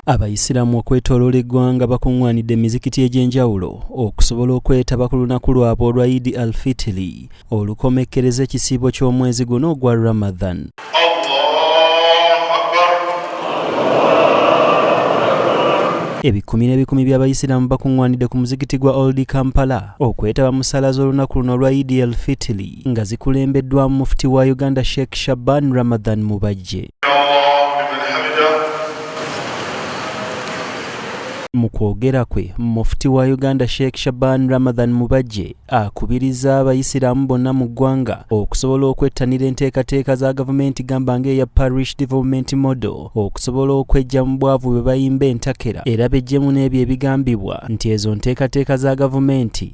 Abayisiraamu okwetoloola eggwanga bakuŋŋwanidde emizikiti egy'enjawulo okusobola okwetaba ku lunaku lwabwe olwa Idi Alfitiri olukomekkereza ekisiibo ky'omwezi guno ogwa Ramadhan. Ebikumi n'ebikumi by'abayisiraamu bakuŋŋwanidde ku muzikiti gwa Old Kampala okwetaba mu ssaala z'olunaku luno olwa Idi Alfitiri. nga zikulembeddwamu Mufti wa Uganda Sheikh Shaban Ramadhan Mubajje. Mu kwogera kwe, Mufti wa Uganda Sheikh Shaban Ramadhan Mubajje akubirizza abayisiraamu bonna mu ggwanga okusobola okwettanira enteekateeka za gavumenti gamba ng'eya Parish Development Model okusobola okwejja mu bwavu bwe bayimba entakera era bejjemu n'ebyo ebigambibwa nti ezo nteekateeka za gavumenti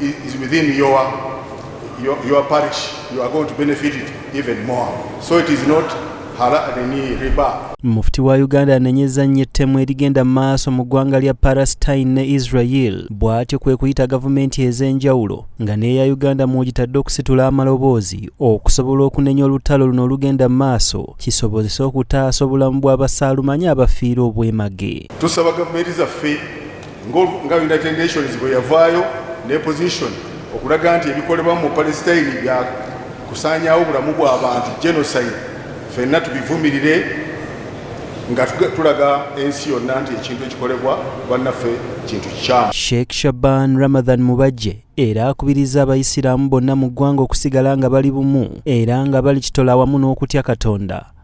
is within your, your, your parish, you are going to benefit it even more. So it is not mufti wa uganda anenyeza nnyo ettemu erigenda mu maaso mu ggwanga lya palestine ne israel bw'atyo kwe kuyita gavumenti ez'enjawulo nga n'eya uganda mw'ogitadde okusitula amaloboozi okusobola okunenya olutalo luno olugenda mu maaso kisobozese okutaasa obulamu bw'abasaalumanya abafiira obwemage tusaba gavumenti zaffe nga United Nations bwe yavaayo ne position okulaga nti ebikolebwa mu Palestine bya kusaanyaawo bulamu bw'abantu genocide, fenna tubivumirire nga tulaga ensi yonna nti ekintu ekikolebwa bannaffe kintu kikyamu. Sheikh Shaban Ramadhan Mubajje era akubiriza abayisiraamu bonna mu ggwanga okusigala nga bali bumu era nga balikitola wamu n'okutya Katonda.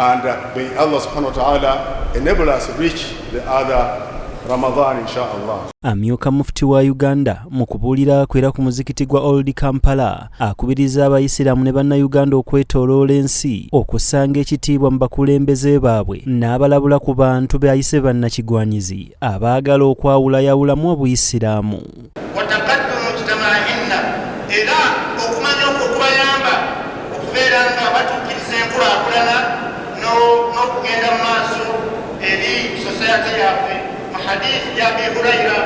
And uh, may Allah subhanahu wa ta'ala enable us reach the other Ramadan inshallah. Amyuka mufti wa Uganda mu kubuulira kwera ku muzikiti gwa Old Kampala akubiriza abayisiraamu ne bannayuganda okwetoloola ensi okusanga ekitiibwa mu bakulembeze baabwe n'abalabula ku bantu beayise bannakigwanyizi abaagala okwawulayawulamu obuyisiraamu. era okumanya okwo okubayamba okubeera nga batuukiriza enkulakulana n'okugenda mu maaso eri sosayate yabwe mu hadithi ya abi huraira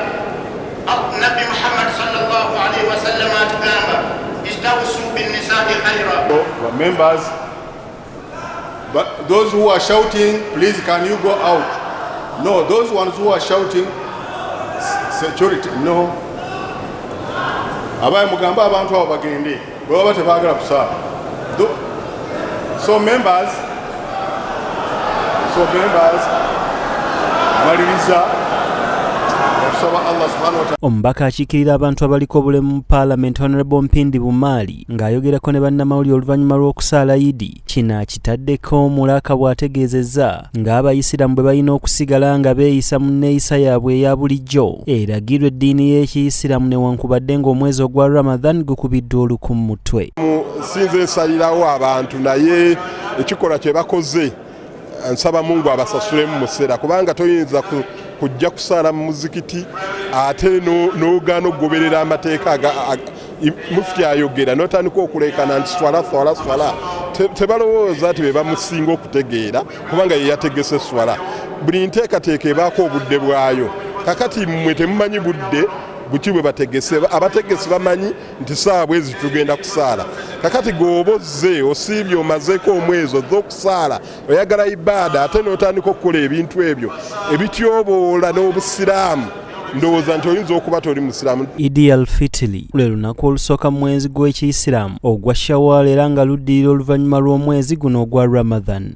nabbi muhammad salllah alaihi wasallama atugamba istausu binnisai khaira But those who are shouting, please can you go out? No, those ones who are shouting, security, no. Abaye mugamba abantu abo bagende, bwe baba tebaagala kusaala. So members, so members, maliriza. omubaka akiikirira abantu abaliko obulemu mu paalamenti honorable mpindi bumaali Ng'ayogerako ne bannamawulire oluvannyuma lw'okusaala Idi, kino akitaddeko omulaka bw'ategeezezza ng'Abayisiraamu bwe balina okusigala nga beeyisa mu nneeyisa yaabwe eya bulijjo eragirwa eddiini y'Ekiyisiraamu newankubadde ng'omwezi ogwa Ramadhan gukubiddwa oluku mu mutwe. Nsinze nsalirawo abantu naye ekikolwa kye bakoze nsaba mungu abasasulemu museera kubanga toyinza kujja kusaala mu muzikiti ate nogaana okugoberera amateeka mufti ayogera notandika okulekana nti swala swala swala tebalowooza nti bebamusinga okutegeera kubanga yeyategese swala buli nteekateeka ebaako obudde bwayo kakati mwe temumanyi budde buki bwe bategese abategesi bamanyi nti saawa bwezi tugenda kusaala kakati gweoba ozze osiibye omazeeko omwezi ozze okusaala oyagala ibaada ate n'otandika okukola ebintu ebyo ebityoboola n'obusiraamu ndowooza nti oyinza okuba toli musiraamu idi al fitili lwe lunaku olusooka mu mwezi gw'ekiyisiraamu ogwa shawaal era nga luddirira oluvannyuma lw'omwezi guno ogwa ramadhan